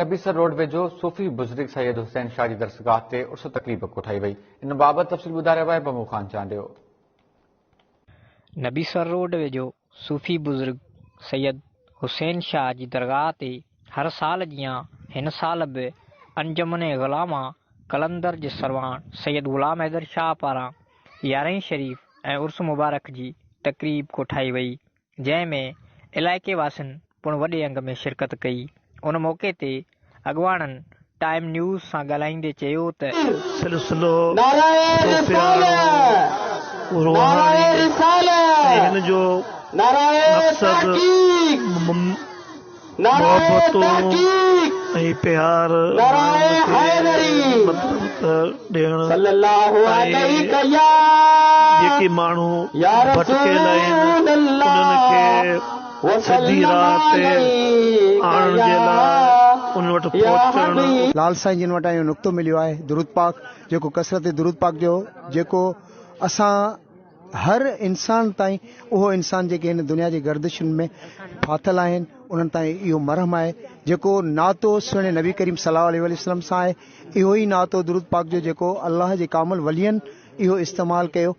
Nabisar road ويجهو صوفي بزرگ سيد حسين شاهه جي درسگاهه تي عرس تقريب ڪوٺائي وئي ان بابت تفصيل ٻڌائي رهيو آهي بمو خان چانڊيو. نبيسر روڊ ويجهو صوفي بزرگ سيد حسين شاهه جي درگاهه تي هر سال جيان هن سال به انجمن غلاما قلندر جي سرواڻ سيد غلام حيدر شاهه پاران يارهين شريف ۽ عرس مبارڪ جي تقريب ڪوٺائي وئي جنهن ۾ علائقي واسين پڻ وڏي انگ ۾ شرڪت ڪئي، ان موقعي تي اڳواڻن ٽائيم نيوز سان ڳالهائيندي چيو ته. سلسلو ٿو پيارو روحاني ۽ هن جو مقصد محبتون ۽ پيار ماڻهن کي مطلب ته ڏيڻ ۽ جيڪي ماڻهو ڀٽڪيل آهن انهن کي سڌي راهه تي آڻڻ جي لاء ان وٽ پهچڻ. لال سائين جن وٽان اهو نقطو مليو آهي درود پاڪ جيڪو ڪثرت درود پاڪ جو جيڪو اسان. هر انسان تائين اهو انسان جيڪي هن دنيا جي گردشن ۾ ڦاٿل آهن انهن تائين اهو مرهم آهي جيڪو ناتو سهڻي نبي ڪريم صلي الله عليه وسلم سان آهي اهو ئي ناتو درود پاڪ جو جيڪو الله جي ڪامل ولين اهو استعمال ڪيو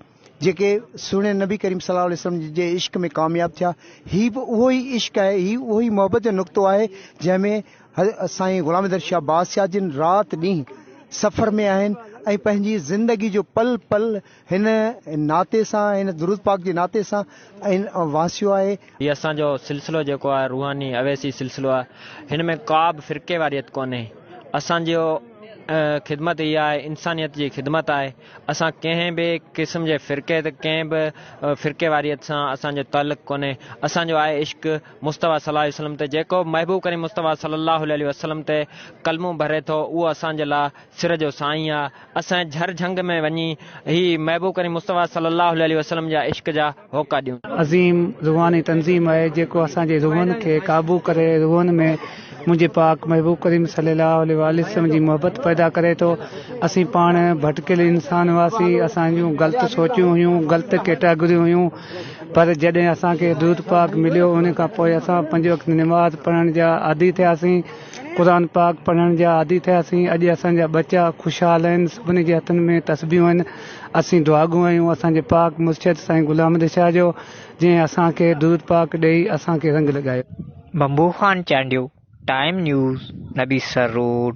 جيڪي سهڻي نبي ڪريم صلي الله عليه وسلم جي عشق ۾ ڪامياب ٿيا هي به اهو ئي عشق آهي هي اهو ئي محبت جو نقطو آهي جنهن ۾ سائين غلام در شاهه بادشاهه جن رات ڏينهن سفر ۾ آهن ۽ پنهنجي زندگي جو پل پل هن ناتي سان، هن درود پاڪ جي ناتي سان ۽ واسيو آهي. هي اسان جو سلسلو جيڪو آهي روحاني اويسي سلسلو آهي هن ۾ ڪابه فرقي واريت ڪونهي اسان جي خدمت هي آهي انسانيت جي خدمت آهي اسان ڪنهن به قسم جي فرقي ته ڪنهن به فرقي واريت سان اسان جو تعلق ڪونهي اسان جو آهي عشق مصطفيٰ صلي الله عليه وسلم تي جيڪو محبوب ڪريم مصطفيٰ صلي الله عليه وسلم تي ڪلمون ڀري ٿو اهو اسان جي لاء سر جو سائين آ اسان جي جھر جھنگ ۾ وڃي ھي محبوب ڪريم مصطفيٰ صلي الله عليه وسلم جا عشق جا ھوڪا ڏيون. عظيم روحاني تنظيم آهي جيڪو اسان جي روحن کي قابو ڪري روحن ۾ منهنجي پاڪ محبوب ڪريم صلي الله عليه واٰله وسلم جي محبت پيدا ڪري ٿو اسين پاڻ ڀٽڪيل انسان هئاسين اسان جون غلط سوچون هيون غلط ڪيٽاگريون هيون پر جڏهن اسان کي درود پاڪ مليو ان کان پوء اسان پنج وقت نماز پڙهڻ جا عادي ٿياسين قرآن پاڪ پڙهڻ جا عادي ٿياسين، اڄ اسان جا ٻچا خوشحال آهن، سڀني جي هٿن ۾ تسبيحون آهن، اسين دعاگو آهيون اسان جي پاڪ مرشد سائين غلام احمد شاهه جو، جنهن اسان کي درود پاڪ ڏيئي اسان کي رنگ لڳايو. Bambo Khan Chandio, time news, Nabisar road.